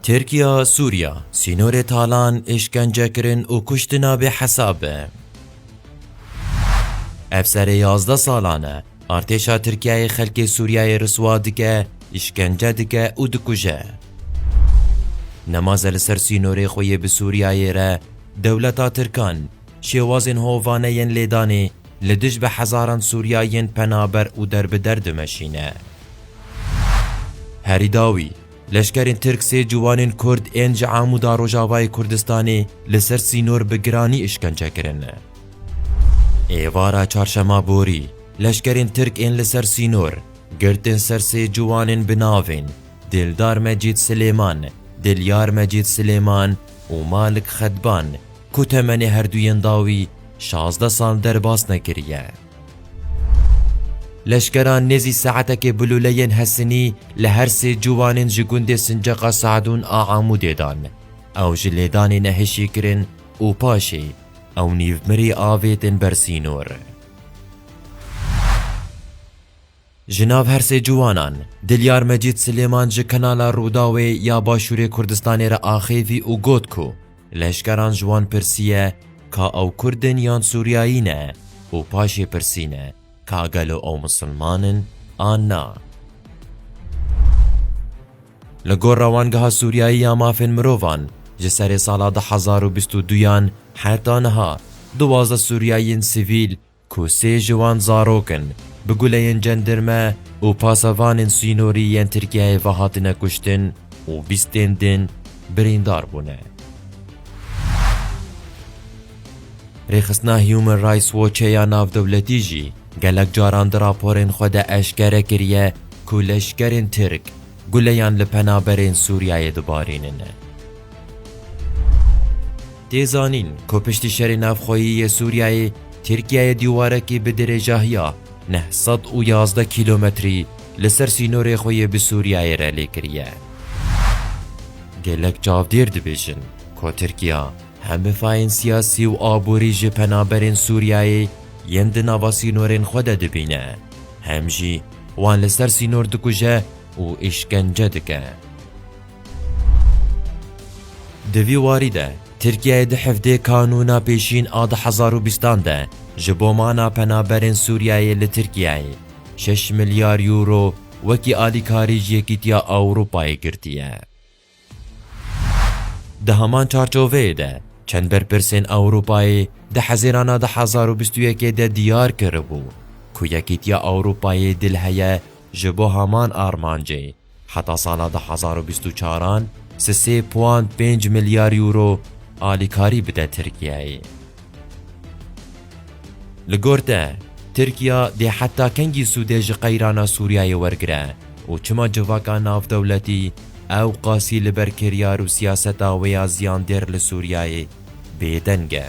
Tirkiya, Sûriya, sînorê talan, îşkencekirin û kuştina bêhesab e. Ev serê yazdeh salan e artêşa Tirkiyeyê xelkê Sûriyeyê riswa dike, îşkence dike û dikuje. Nemaze li ser sînorê xwe yê bi Sûriyeyê re dewleta Tirkan, Şêwazên hovane yên lêdanê li dij bi hezaran Sûriya yên penaber û derbider dimeşîne. Herî dawî, leşkerên Tirk sê ciwanên Kurd ên ji Amûda Rojavayê Kurdistanê li ser sînor bi giranî îşkence kirin. Êvara çarşema borî, leşkerên Tirk ên li ser sînor, girtin ser sê ciwanên bi navên Dildar Mecîd Silêman, Dilyar Mecîd Silêman û Malik Xedban, ku temenê herduyên dawî şazdeh sal derbas nekiriye. Leşkeran nêzî saetekê bi lûleyên Hesinî li her sê ciwanên ji gundê Sinceqa Seedûn a Amûdê dan. Ew ji lêdanê nehişî kirin û paşê ew nîv mirî avêtin ber sînor. Ji nav her sê ciwanan, Dilyar Mecîd Silêman ji kanala Rûdawê ya Başûrê Kurdistanê re axêvî û got ku leşkeran ji wan pirsiye ka ew Kurd in yan Sûriyayî ne û paşê pirsîne ka gelo ew Misilman in an na. Li gor Rewangeha Sûriyayî ya Mafên Mirovan, ji serê sala du hezar û bîst û duyan heta niha, duwazdeh Sûriyayîyên sivîl ku sê ji wan zarok in, bi guleyên cendirme û pasevanên sînorî yên Tirkiyeyê ve hatine kuştin û bîst tên din birîndar bûne. Rêxistina Human Rights Watchê ya navdewletî jî gelek caran di raporên xwe de eşkere kiriye ku leşkerên Tirk guleyan li penaberên Sûriyeyê dibarînin. Tê zanîn ku piştî şerê navxweyî yê Sûriyeyê Tirkiyeyê dîwarekî bi dirêjahiya neh sed û yazdeh kîlometrî li ser sînorê xwe yê bi Sûriyeyê re lê kiriye. Gelek çavdêr dibêjin ku Tirkiya hem bi fayên siyasî û aborî ji penaberên Sûriyeyê yên di nava sînorên xwe de dibîne, hem jî wan li ser sînor dikuje û îşkence dike. Di vî warî de Tirkiyeyê di hevdê kanûna pêşîn a du hezar û bîstan de ji bo mana penaberên Sûriyeyê li Tirkiyeyê şeş milyar euro wekî alîkarî ji Yekîtiya Ewropayê girtiye. Di heman çarçoveyê de çend berpirsên Ewropayê di hezirana du hezar û bîst û yekê de diyar kiribû ku Yekîtiya Ewropayê dil heye ji bo heman armancê, Heta sala du hezar û bîst û çar an si sê puan pênc milyar euro alîkarî bide Tirkiyeyê. Li gor te, Tirkiya dê heta kengî sûdê ji qeyrana Sûriyeyê wergire û çima civaka navdewletî ewqasî li ber kiryar û siyaseta wê ya ziyandêr li Sûriyeyê bêdeng e?